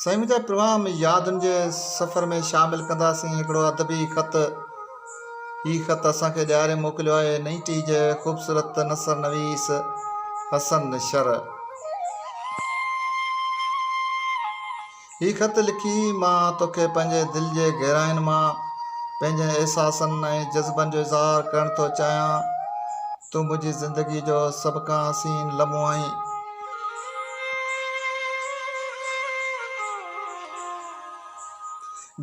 سائين منهنجا پرواه ۾ يادن جي سفر ۾ شامل ڪنداسين هڪڙو ادبي خط هي خط اسان کي ڏياري موڪليو آهي نئيٽي جي خوبصورت نثر نويس حسن شر هي خط لکي مان توکي پنهنجي دل جي گهراين مان پنهنجن احساسن ۽ جذبن جو اظهار ڪرڻ ٿو چاهيان تون منهنجي زندگي جو سڀ کان حسين لمحو آهين.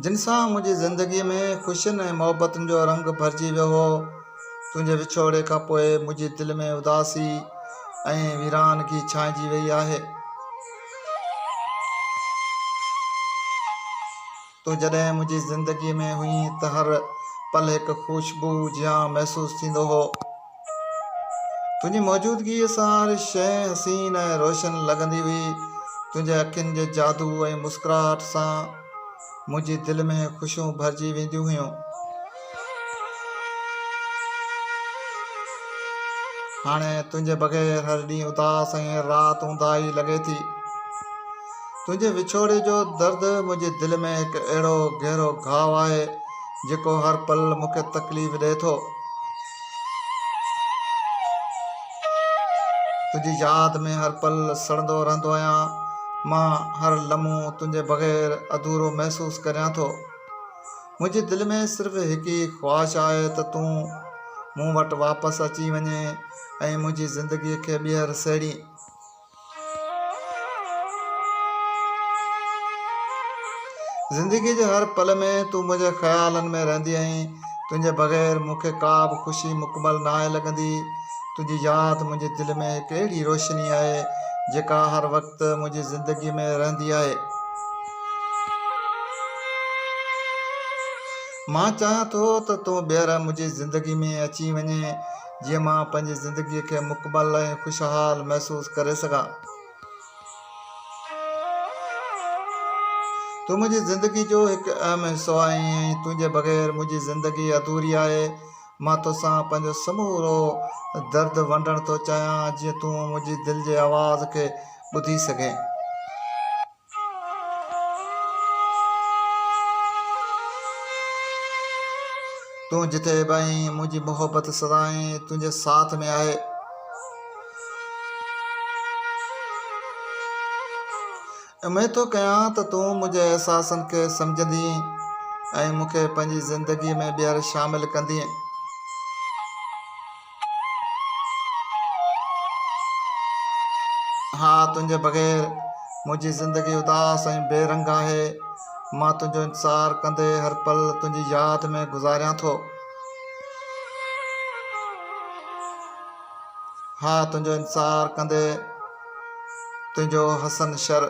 جن سان منهنجي زندگي ۾ خوشين ۽ محبتن جو رنگ ڀرجي ويو هو تنهنجي وڇوڙي کان پوء منهنجي دل ۾ اداسي ۽ ويرانگي ڇانئجي وئي آهي. تون جڏهن منهنجي زندگيء ۾ هئين ته هر پل هڪ خوشبوء جيان محسوس ٿيندو هو. تنهنجي موجودگيء سان هر شيء حسين ۽ روشن لڳندي هئي. تنهنجي اکين جي جادو ۽ مسڪراهٽ سان منهنجي دل ۾ خوشيون ڀرجي وينديون هيون. هاڻي تنهنجي بغير هر ڏينهن اداس ۽ هر رات اونداهي لڳي ٿي. تنهنجي وڇوڙي جو درد منهنجي دل ۾ هڪ اهڙو گهرو گهاء آهي، جيڪو هر پل مون کي تڪليف ڏئي ٿو. تنهنجي ياد ۾ هر پل سڙندو رهندو آهيان مان هر لمحو تنهنجي بغير اڌورو محسوس ڪريان ٿو منهنجي دل ۾ صرف هڪ ئي خواهش آهي ته تون مون وٽ واپس اچي وڃي ۽ منهنجي زندگي کي ٻيهر سهيڙي زندگيء جي هر پل ۾ تون منهنجي خيالن ۾ رهندي آهين تنهنجي بغير مون کي ڪا به خوشي مڪمل ناهي لڳندي تنهنجي ياد منهنجي دل ۾ هڪ اهڙي روشني آهي جيڪا هر وقت منهنجي زندگيء ۾ رهندي آهي مان چاهيان ٿو ته تون ٻيهر منهنجي زندگيء ۾ اچي وڃين جيئن مان پنهنجي زندگيء کي مڪمل ۽ خوشحال محسوس ڪري سگهان. تون منهنجي زندگي جو هڪ اهم حصو آهين ۽ تنهنجي بغير منهنجي زندگي اڌوري آهي. مان توسان پنهنجو سمورو درد ونڊڻ ٿو چاهيان جيئن تون منهنجي دل جي آواز کي ٻڌي سگهين. تون جتي به آهين منهنجي محبت سدائين تنهنجي ساٿ ۾ آهي اميد ٿو ڪيان ته تون منهنجي احساسن کي سمجهندي ۽ مون کي پنهنجي زندگي ۾ ٻيهر شامل ڪندي ها تنهنجي بغير منهنجي زندگي اداس ۽ بي رنگ آهي مان تنهنجو انتظار ڪندي هر پل تنهنجي ياد ۾ گذاريان ٿو ها تنهنجو انتظار ڪندي تنهنجو حسن شر